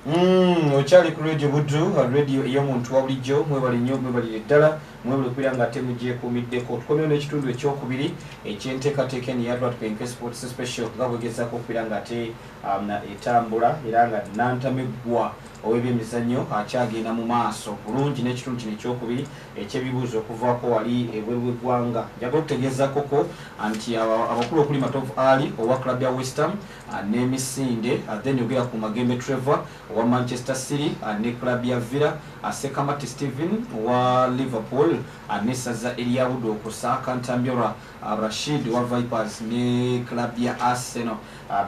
Mm, okyali ku radio buddu radio ey'omuntu wa bulijjo mwebale nnyo mwebalire ddala mwebale okubeera nga ate mugyekuumiddeko tukomyewo n'ekitundu ekyokubiri ekyenteekateeka eno ya rwatp enkesports special nga bwegezaako okubeera nga ate um, etambula era nga nantameggwa ow'ebyemizannyo akyagenda mu maaso bulungi n'ekitundu kino ekyokubiri ekyebibuuzo okuvaako wali ebweru w'eggwanga njaga okutegeezakoko nti abakulu okuli matovu ali owa club ya westham n'emisinde then yogera ku Magembe Trevor owa Manchester City ne club ya Villa, Ssekamate Steven owa Liverpool n'essaza erya Budo kusaaka Ntambyora Rashid owa Vipers ne club ya Arsenal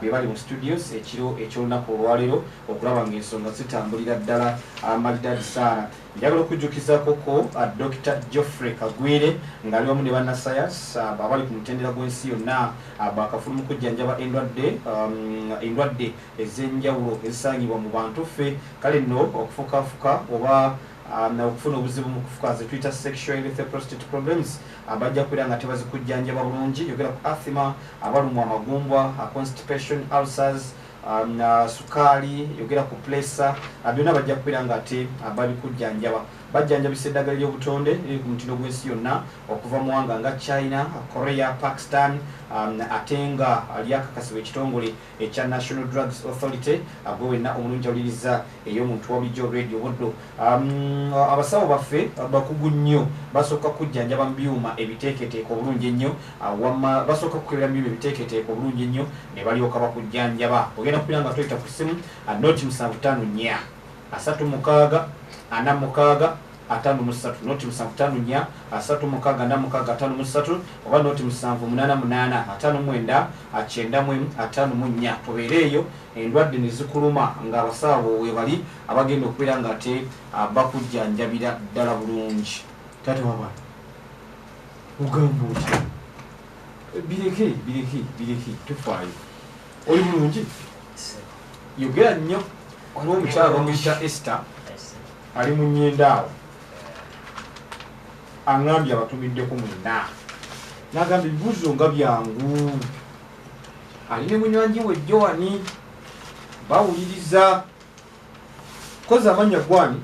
be bali mu studios ekiro eky'olunaku olwaleero okulaba ng'ensonga zitambulira ddala amalidaadi saala. Njagala okujjukiza koko Dokita Geoffrey Kagwire ng'ali wamu ne bannasayansi abali ku mutendera gw'ensi yonna baakafulu mu kujjanjaba endwadde um, endwadde ez'enjawulo ezisangibwa mu bantu ffe kale nno okufukaafuka oba Um, okufuna obuzibu mu kufuka zetuyita sexual health prostate problems uh, bajja kubeera nga tebazikujjanjaba bulungi yogera ku athima abalumwa amagumbwa uh, constipation ulcers um, na sukaali yogera ku pulesa uh, byonna bajja kubeera nga ate uh, babikujjanjaba bajjanjabisa eddagala ly'obutonde liri ku mutindo gw'ensi yonna okuva mu wanga nga china korea pakistan um, ate nga lyakakasibwa ekitongole ekya national drugs authority uh, gwe wenna omulungi awuliriza ey'omuntu wabulijjo radio buddo Um, abasawo baffe bakugu nnyo basooka kujjanjaba mu byuma ebiteeketeeka obulungi ennyo uh, wamma basooka kukebera mu byuma ebiteeketeeka obulungi ennyo ne balyoka bakujjanjaba ogenda kupira nga toyita ku ssimu uh, noti musanvu ttaano nnya asatu mukaaga ana mukaaga atano musatu noti musanvu tano nya asatu mukaga na mukaga atano musatu oba noti musanvu munana munana atano mwenda akyenda mwemu atano munya tubeereeyo endwadde ne zikuluma ng'abasawo webali Abagenda okubeera nga ate bakujjanjabira ddala bulungi. Taata wabana ogamba otya? Bireke bireke bireke tofaayo. Oli bulungi? Yogera nnyo. Waliwo omukyala bamuyita Esther ali mu nyendaawo aŋambye abatumiddeko mwena nagamba ebibuzo nga byangu ali ne munywanji we joani bawuliriza kozi amannya gwani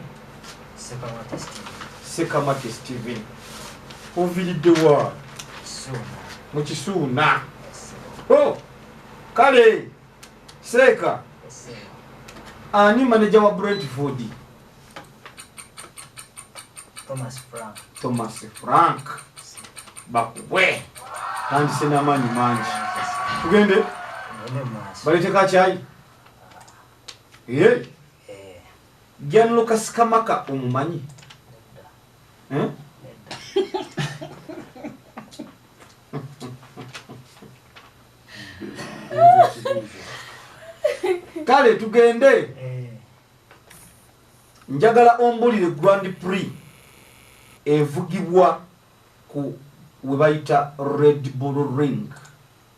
sekamate steven oviridde wa mu kisuuna oh, kale seeka ani maneja wa brentford thomas frank bakubwe tandise n'amaanyi mangi tugende baletekakyayi Eh. General Kasikamaka omumanyi. Eh? Kale tugende. Eh. Njagala ombulire Grand Prix evugibwa ku webayita Red Bull Ring.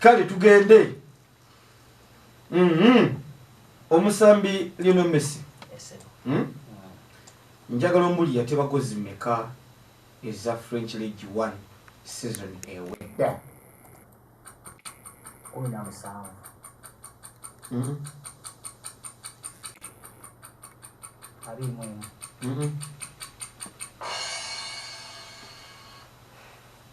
kale tugende mhm. omusambi lino messi hmm? njagala omuli yatebakozi meka eza french league one season ewedda mhm. Mhm.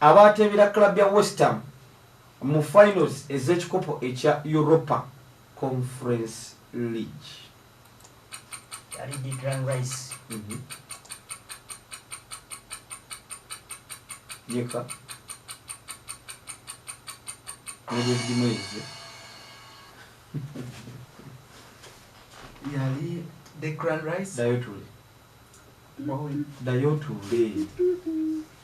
Abaateebera club ya West Ham mu finals ez'ekikopo ekya Europa Conference League. Yali Declan Rice. Mhm. Yeka. Nibyo bimwezi. Yali Declan Rice. Dayo tuli. Dayo tuli.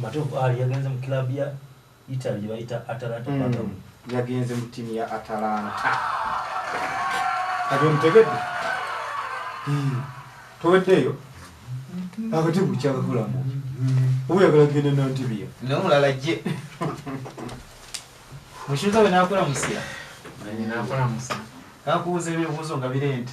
matovu ali ah, yagenze mu club ya italy gyebayita atalanta mm. yagenze mu tiimu ya atalanta kati omutegedde hmm. toweddeeyo akati bukyakakulamu oba yagala genda nantibiya nomulala je mushuza we nakola musira nakola musira kakubuza ebibuzo nga birente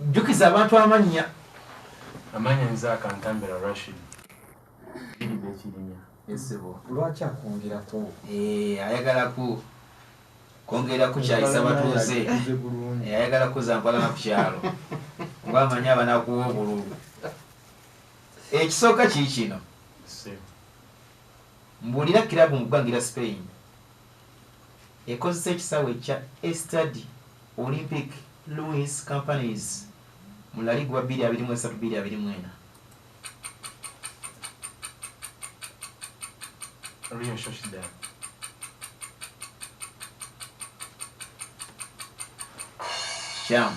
Jjukiza abantu amannya. Amannya nze akantambira Rashid. Biride Kirinya. Esebo. Lwaki akwongera ku? Eh, ayagala ku kwongera kukyayisa batuuze. Eh, ayagala kuza mpalana ku kyalo. Kuba amanyi abanakuwa obululu. Ekisooka kii kino. Mbulira kirabu mu ggwangira Spain. ekozesa ekisaawe kya Estadi Olympic Louis Companies mu La Ligue wa bbiri abiri mu esatu bbiri abiri mu ena. Real Sociedad. Kikyamu.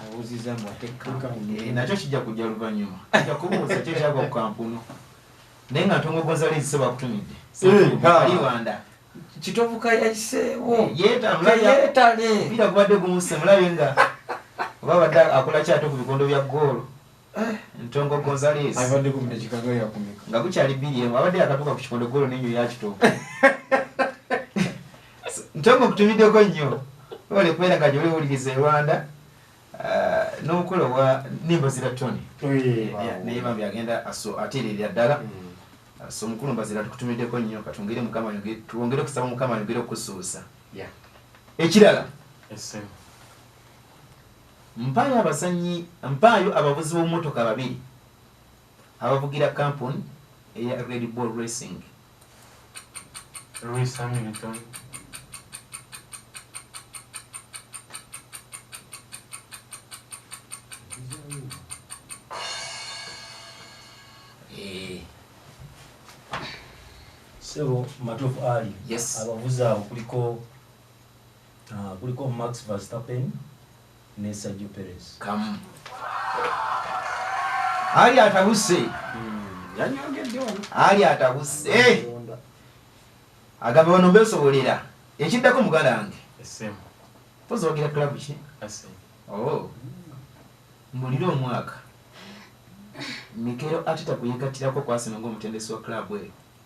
abuuziza mbu ate kampuni eh, nakyo kijja kujja luvannyuma ajja kubuuza kyo kyagwa ku kampuni naye nga ntongo gonzalezi se bakutumidde aliwanda eh, kitovuka yayiseewo eh, yeetale mpira gubadde gumussemulabe nga oba badde akola kyato ku bikondo bya goolo Eh, ntongo gonzales abadde ku bino kikaga yakumika nga bukyali biri emu abadde yakatuuka ku kikondo golo nenyo yakituuka ntongo kutumiddeko nnyo ole kubeera nga gyoli owuliriza e rwanda eh, n'omukola owa nimba zira tony naye bambi agenda ateererera ddala mm. so mukulu mbazira tukutumiddeko nnyo katwongere mukama twongere okusaba mukama yongere okusuusa ekirala Mpaayo abazannyi Mpaayo abavuzi b'omumotoka babiri abavugira kampun eya Red Bull Racing. Lewis Hamilton Sebo Matovu Ali yes. abavuzi abo kuliko Ah, kuliko Max Verstappen ne Sergio Perez. Kamu. Ali atabuse. Hmm, Ali atabuse. Eh! Agaba bano besobolera. Ekiddako mugalange. Esemu. Pozo wagira club ki? Esemu. Oh. Mulire omwaka. Mikero atita kuyekatirako kwasino ng'omutendesi wa club eyo.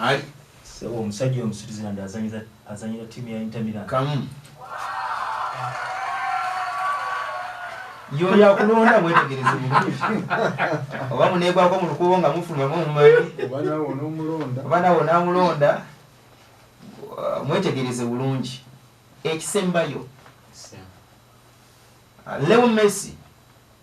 ali sebo omusajja omu Switzerland azanyira azanyira timu ya Inter Milan kamu yo ya kulonda mwetegereze bulungi oba munegwako mu lukubo nga mufuluma mumumanyi obana wona omulonda obana wona omulonda mwetegereze bulungi ekisembayo Leo Messi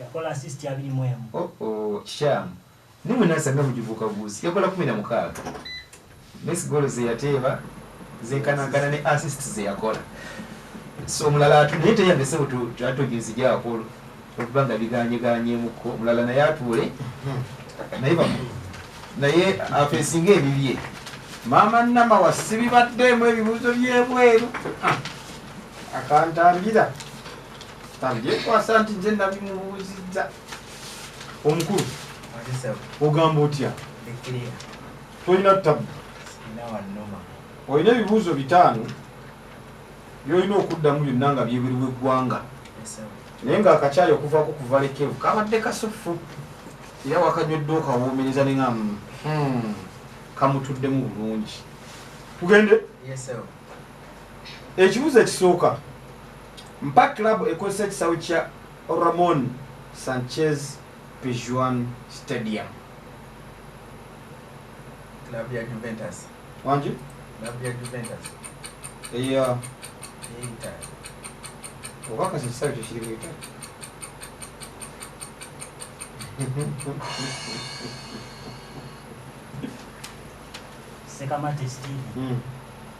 yakola asisiti abiri mu emu oh, oh, kikyamu naye mwe nasanga mugivuuka buuzi yakola kumi na mukaaga nes golo zeyateeba zenkanagana ne asist zeyakola so omulala atu naye teyambese atoginzigyako okuba nga biganyeganyemuko omulala naye atuule naye bamu naye afesinga ebibye maama nama wasibibaddeemu ebibuuzo byebweru ah. akantambira tambyekwasa nti nze nabimubuuzizza omukulu ogamba otya tolina tabu olina ebibuuzo bitaano byolina okuddamu byonna nga byebiriwo eggwanga naye nga akakyayi okuvaako kuva lekevu kabadde kasuffu era wakanywedde okawoomereza nenga hmm, kamutuddemu bulungi tugende ekibuzo ekisooka mpa club ekozesa ekisawe kya ramon sanchez pijuan stadium club ya juventus wangi club ya juventus eya obakasa ekisawe kyo kiri mu italy sekamate steve mm.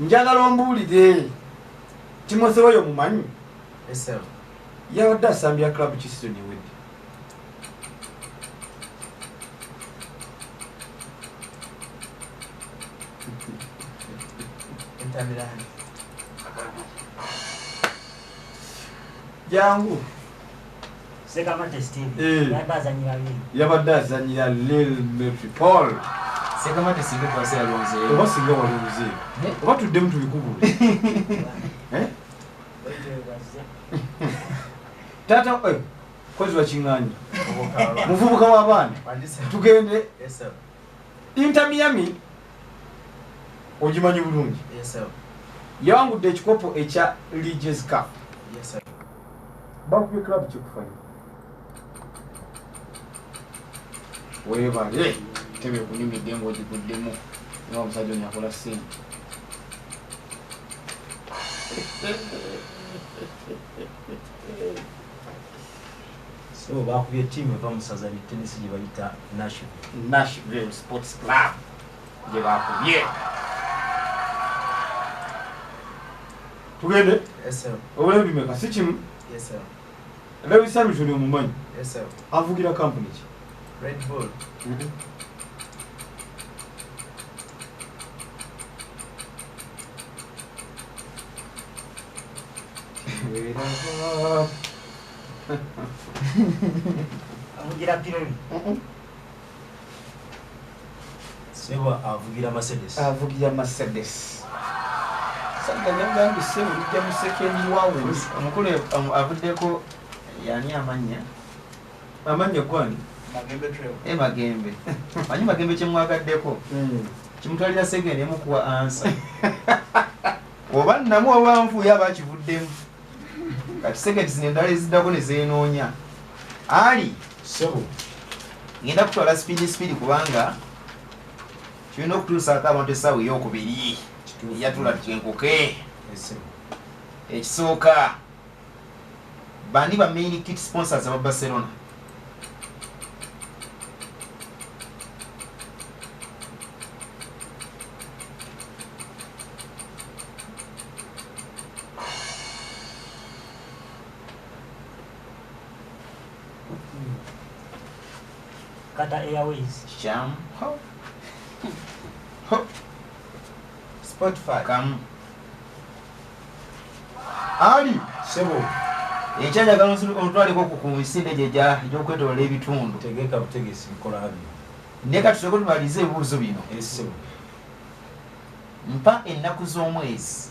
njagala ombuulire timothy oyo mumanyi yabadde asambira club kisizoni ewedde jangu Sekamate Steve Eh. yabadde azannyira Lille. yabadde azanyira lil metripol sekamate singa ekwasa yalonzeeyo oba singa walonze oba tuddemu tubikubule Eh? taata eh, kozi wakiŋŋanya muvubuka w'abaana tugende inter miami ogimanyi bulungi yawangudde ekikopo ekya leges cup bakubye club kikufayo webale tebe kunyumidde ngaogiguddemu nga omusajja onyakola sente so bakubye tiimu eva musaza ne tenisi gye bayita nashville sports club gye bakubye tugende obulayo bimeka si kimu lewis hamilton omumanyi avugira kampuni ki mm-hmm. avugira pironi Sebo avugira Mercedes. Avugira Mercedes. Sanga nyangambi sebo bijja mu second wawe. Omukulu um, avuddeko yani amanya. Amanya kwani? Magembe trail. E Magembe. Manyi Magembe kyemwagaddeko. Mm. Kimutwalira second emukuwa answer. Oba namu awanvu yaba kivuddemu. Kati second zine ndale zidako ne zenoonya. Ali. Mm. Sebo, ngenda kutwala speed speed kubanga tulina okutuusaako abantu essaawa eyokubiri yatula twenkuke ekisooka bani ba main kit sponsors aba barcelona kata airways kikyamu spotify kamu ali sebo ekyajagala otwaliko ku misinde gyejokwetolola ebitundu tegeka butegesi bikola bino naye kati soke tubalize ebibuuzo bino mpa ennaku z'omwezi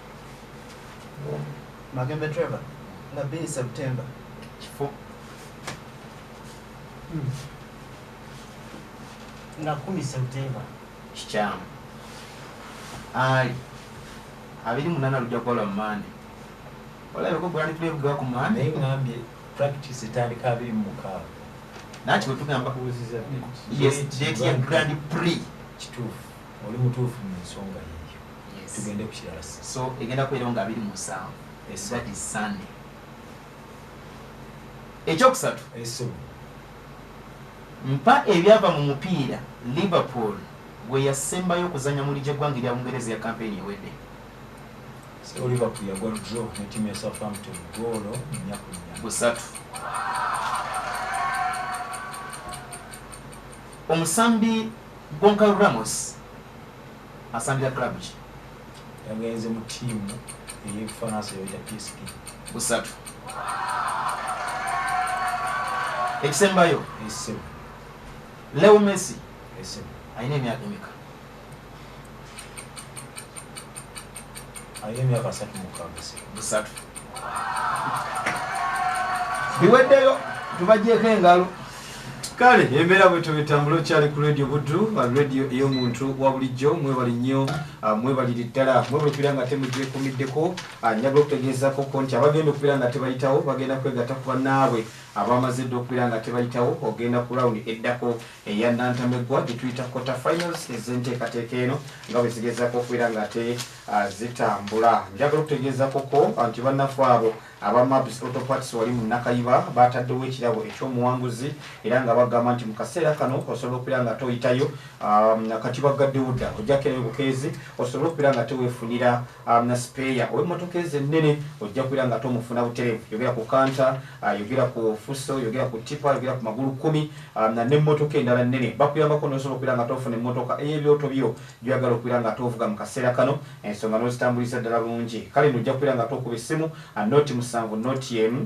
Magembe Trevor nga bini September kifo hmm. nga kumi September kikyamu ali abiri munana lujja kukola mu mande olabeko gwali tuli ebuga ku mande naye ngambye practice etandika abiri mu mukaaga naki wetugamba kubuziza yes date ya grand prix kituufu oli mutuufu mu nsonga ye tugende ku kirala so egenda kubeerawo nga abiri mu nsanvu that is sunday ekyokusatu mpa ebyava mu mupiira liverpool gwe yasembayo okuzanya muli gy'eggwanga erya bungereza ya kampeyini ewedde liverpool yagwa draw ne tiimu ya southampton goolo nyakunya busatu omusambi gonkal ramos Asambira club ki? Yagenze mu team eye Faransa yoyita PSG. Busatu. Ekisembayo. Ekisembayo. Leo Messi. Ekisembayo. Aine miaka mika. ayo emyaka asatu mukaaga busatu biweddeyo tubagyeko engalo kale embeera bwetyo betambula okyali ku radio buddu radio ey'omuntu wa bulijjo mwebali nnyo ah, mwebaliri ddala mwebali okubeera nga temugyekumiddeko ah, njaga okutegeezako ko nti abagenda okubeera nga tebayitawo bagenda kwegatta ku bannaabwe abamaze dda okubeera nga tebayitawo ogenda ku rawundi eddako eya Nantameggwa gye tuyita quarter finals ez'enteekateeka eno nga bwe zigezaako okubeera ng'ate ah, zitambula njagala okutegeezakoko ah, nti bannafu abo aba mabs autoparts wali mu nakayiba baataddewo ekirabo eky'omuwanguzi era nga bagamba nti mu kaseera kano osobola okubeera nga toyitayo ah, kati baggaddewo dda ojjakerewe bukeezi osobola okubeera nga teweefunira Alina sipeeya ow'emmotoka ezo ennene ojja kubeera nga tomufuna butereevu. Yogera ku kanta, ah, yogera ku fuso, yogera ku ttipa, yogera ku magulu kkumi ah, na n'emmotoka endala ennene. Bakuyambako n'osobola okubeera nga tofuna emmotoka ey'ebyoto byo gy'oyagala okubeera nga tovuga mu kaseera kano, ensonga n'ozitambuliza ddala bulungi. Kale nno ojja kubeera nga tokuba essimu ah, nooti musanvu, nooti emu.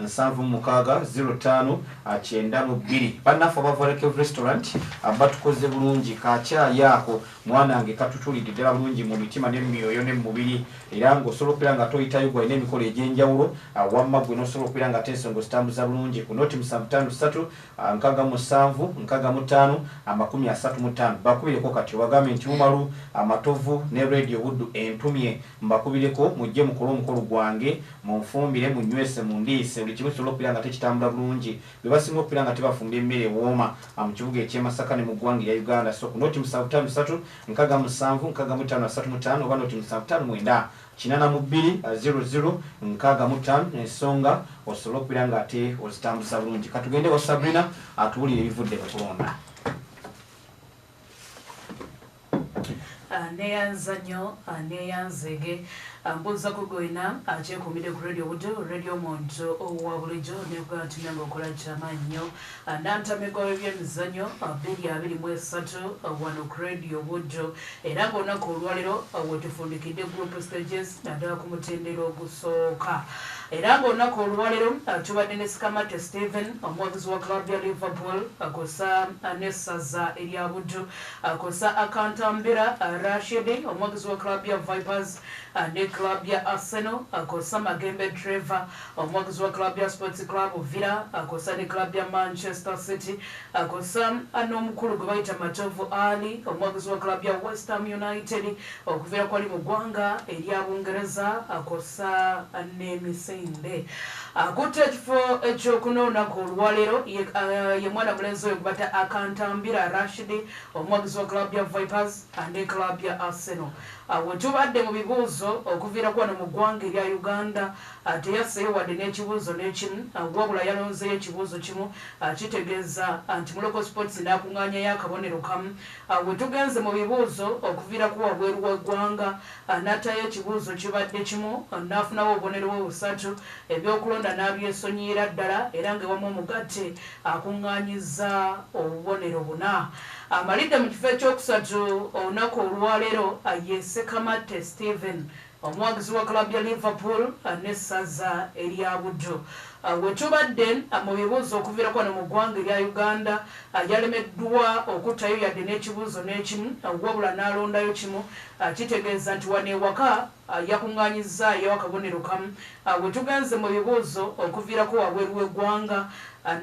nsanvu mukaaga zero ttaano kyenda mu bbiri bannaffe aba vorekev restaurant batukoze bulungi kakyayi ako mwanange katutulidde ddala bulungi mu mitima ne mumyoyo ne mumubiri era ngaosobola okubeera nga toyitayo gwalina emikolo egy'enjawulo wamma gwe nosobola okubeera nga tensonga ozitambuza bulungi ku noti musanvu ttaano ssatu nkaga mu ssanvu nkaga mu ttaano amakumi asatu mu ttaano bakubireko kati obagambe nti umalu amatovu ne radio buddu entumye mbakubireko mujje mukole omukolo gwange Munfumbire, munnywese, mundiise, buli kimu kisobole okubeera nga tekitambula bulungi. Be basinga okubeera nga tebafumbye mmere ewooma mu kibuga eky'e Masaka ne mu ggwanga erya Uganda. Ssoku nooti musanvu ttaano ssatu nkaga musanvu nkaga mu ttaano asatu mu ttaano oba nooti musanvu ttaano mwenda kinana mu bbiri ziro ziro nkaaga mu ttaano ensonga osobole okubeera nga ate ozitambuza bulungi. Ka tugende ewa Sabrina atubuulire ebivudde mu kulonda. Neyanza nnyo neyanza ege mbuuza ku gwena akyekuumidde ku Radio Budo, Radio Muntu owa bulijjo neegamba nti nange okola kyamaanyi nnyo nantamegwa w'ebyemizannyo bbiri abiri mu esatu wano ku Radio Budo era ng'olunaku olwalero wetufundikidde group stages naddala ku mutendera ogusooka era ng'olunaku olwalero tubadde ne Sikamate Steven omuwagizi wa club ya Liverpool kosa n'essaza erya Budo Akozesa akantambira Rashid, omwagizi wa club ya Vipers ne club ya Arsenal. Akozesa Magembe Trevor, omwagizi wa club ya Sports Club Villa. Akozesa ne club ya Manchester City. Akozesa n'omukulu gwe bayita Matovu Ali, omwagizi wa club ya West Ham United. Okuva ekoli mu ggwanga erya Bungereza kwossa n'emisinde. Akutte ekifo ekyokuna olunaku olwaleero ye mwana mulenzi oyo gwebata Akantambira Rashid omuwagizi wa club ya Vipers ne club ya Arsenal. Wetubadde mu bibuuzo okuviira ku wano mu ggwanga erya Uganda teyasseeyo wadde n'ekibuuzo n'ekimu wabula yalonzeeyo ekibuuzo kimu kitegeeza nti Muloko Sports n'akung'aanyayo akabonero kamu Awo we tugenze mu bibuuzo okuviira ku wabweru w'eggwanga. N'attaayo ekibuuzo kibadde kimu n'afunawo obubonero bwe busatu, ebyokulonda n'abyesonyiyira ddala era ng'ewamu omugatte akung'aanyizza obubonero buna. Amalidde mu kifo ekyokusatu olunaku olwaleero ye Ssekamatte Steven. Omuwagizi wa club ya Liverpool ne Ssaza erya Buddu. Wetubadde mu bibuuzo okuviirako wano mu ggwanga erya Uganda, yalemeddwa okuttayo yadde n'ekibuuzo n'ekimu wabula n'alondayo kimu kitegeeza nti wano ewaka yakungaanyizzaayo akabonero kamu. Wetugenze mu bibuuzo okuviirako wabweru w'eggwanga,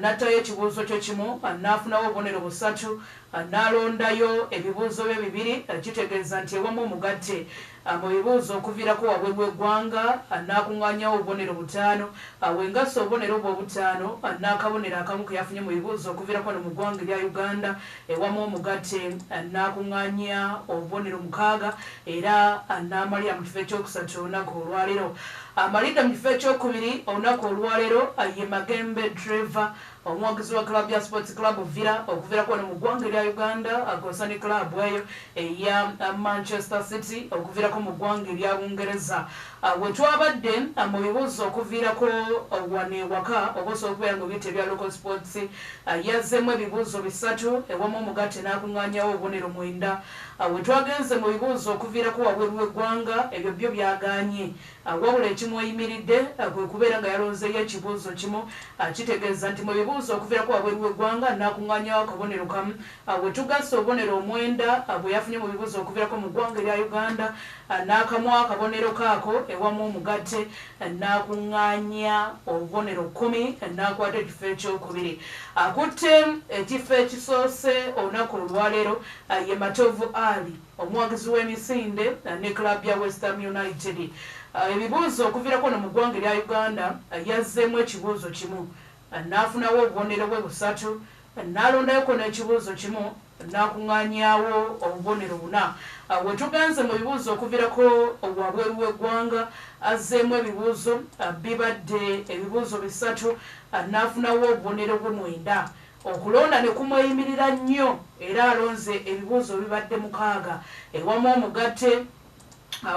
nattayo ekibuuzo kye kimu n'afunawo obubonero busatu n'alondayo ebibuuzo bye bibiri kitegeeza nti ewamu omugatte. Abo be booza okuviirako wabweru w'eggwanga, anaakuŋŋaanyawo obubonero butaano, awe nga asse obubonero obwo obutaano, anaakabonero akamu ke yafunye mu bibooza okuviirako wano mu ggwanga erya Uganda, ewamu omugatte, anaakuŋŋaanya obubonero mukaaga, era anaamalira mu kifo eky'okusatu olunaku olwaleero. Amalidde mu kifo eky'okubiri olunaku olwaleero ye Magembe Trevor Omwogezi wa club ya Sports Club Villa okuvirako wano mu ggwanga erya Uganda akozesa ne club eyo eya Manchester City okuvirako mu ggwanga erya Bungereza ah, wetwabadde ah, mu bibuuzo okuvirako ah, wano ewaka oba osobola okubeera nga obiyita ebya local sports yazzemu ebibuuzo bisatu ewamu omugatte n'akuŋŋaanyawo obubonero mwenda wetwagenze mu bibuuzo okuvirako wabweru w'eggwanga ebyo byo byaganye Wabula ekimweyimiridde kwe kubeera nga yalonzeeyo ekibuuzo kimu kitegeeza nti mu bibuuzo okuviirako wabweru w'eggwanga nnaakungaanyawo akabonero kamu. We tugasse obubonero omwenda bwe yafunye mu bibuuzo okuviirako mu ggwanga erya Uganda nnaakamuwa akabonero ke ako ewamu omugatte nnaakungaanya obubonero kkumi nnaakwata ekifo ekyokubiri. Akutte ekifo ekisoose olunaku olwaleero ye Matovu Ali. Omuwagizi w'emisinde ne club ya West Ham United ebibuuzo okuvirako no mu ggwanga erya Uganda yazzeemu ekibuuzo kimu n'afunawo obubonero bwe busatu n'alondayoko n'ekibuuzo kimu n'akung'anyaawo obubonero buna. Wetugenze mu bibuuzo okuvirako wabweru w'eggwanga azzeemu ebibuuzo bibadde ebibuuzo bisatu n'afunawo obubonero bwe mwenda. Okulonda ne kumweyimirira nnyo era alonze ebibuuzo bibadde mukaaga ewamu omugatte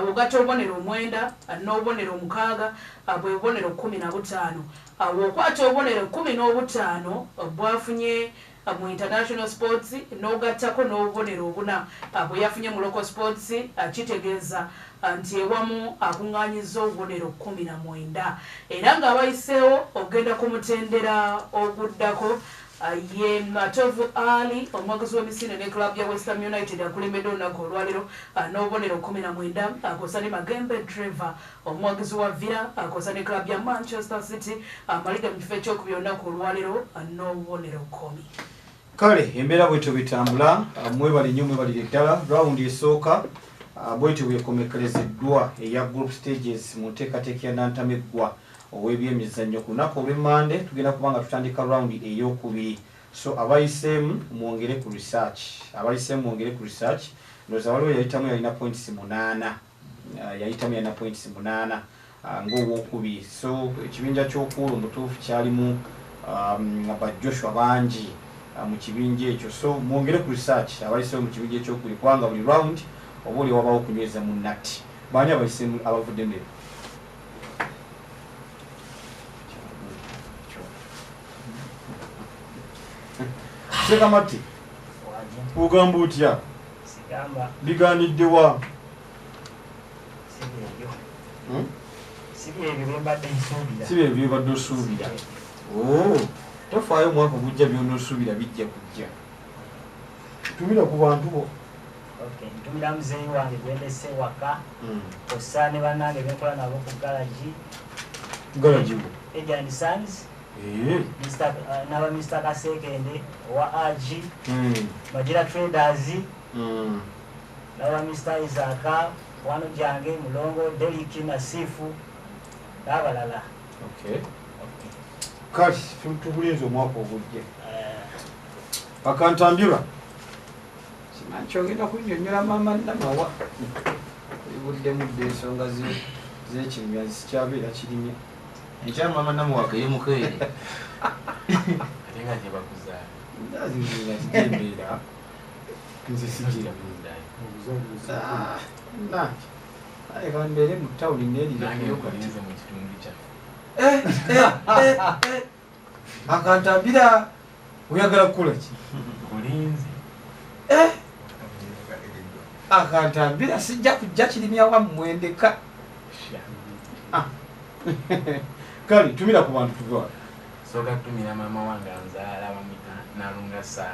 ogatta obubonero omwenda n'obubonero omukaaga bwe bubonero kkumi na butaano. Bw'okwata obubonero ekkumi n'obutaano bw'afunye mu International Sports n'ogattako n'obubonero obuna bwe yafunye mu Local Sports kitegeeza nti ewamu akungaanyizza obubonero kkumi na mwenda era ng'abayiseewo okugenda ku mutendera oguddako ye Matovu Ali omuwagizi w'emisinde ne club ya West Ham United akulembedde olunaku olwalero n'obubonero kkumi na mwenda akosa ne Magembe Trevor omuwagizi wa Villa akosa ne club ya Manchester City amalidde mu kifo ekyokubiri olunaku olwalero n'obubonero kkumi. kale embeera bwetyo bwetambula mwebale nnyo mwebalire ddala rawundi esooka Ah, bwetyo bwekomekerezeddwa eya group stages mu nteekateeka ya nantameggwa ow'ebyemizannyo ku lunaku olwemmande tugenda kuba nga tutandika rawundi ey'okubiri so abayiseemu mwongere ku research abayiseemu mwongere ku research ndooza waliwo yayitamu yalina points munaana uh, yayitamu yalina points munaana uh, ngaowokubiri so ekibinja kyokuulu mutuufu kyalimu um, ba joshua bangi uh, mu kibinja ekyo so mwongere ku research abayisewo mu kibinja ekyokubiri kubanga buli round oba oli wabawo okunyweza mu natti baani abayisemu abavudde mebe sekamatti ogamba otya biganidde wa hmm? si byebyo byobadde osuubira oh, tofaayo omwaka ogujja byona osuubira bijja kujja tumira ku bantu bo ntumira muzeeyi wange gwendese waka hmm. osa ne banange benkola nabo ku galagi galagi ejanisans Eh. Uh, naba mr kasekende owa ag hmm. bagira traders hmm. naba mr isaka wano jange mulongo deliki nasifu nabalala kati tubulinza omwaka ogujja eh. akantambula simanyi kyogenda kunyonyola mama namawa ebuddemu dde ensonga zekimya zikyabeera kirimya Enkya mama namuwaka ye mukeere ate nga gye bakuzaala nzazizazijembeera nze sigira leka mbeere mu tawuni nerirayokalinze mu kitundu kyaffe akantambira oyagala kukola ki eh? akantambira sijja kujja kirimya wammwendeka ah. kale tumira ku bantu tuva soka tumira mama wange anzaala bamita nalunga saala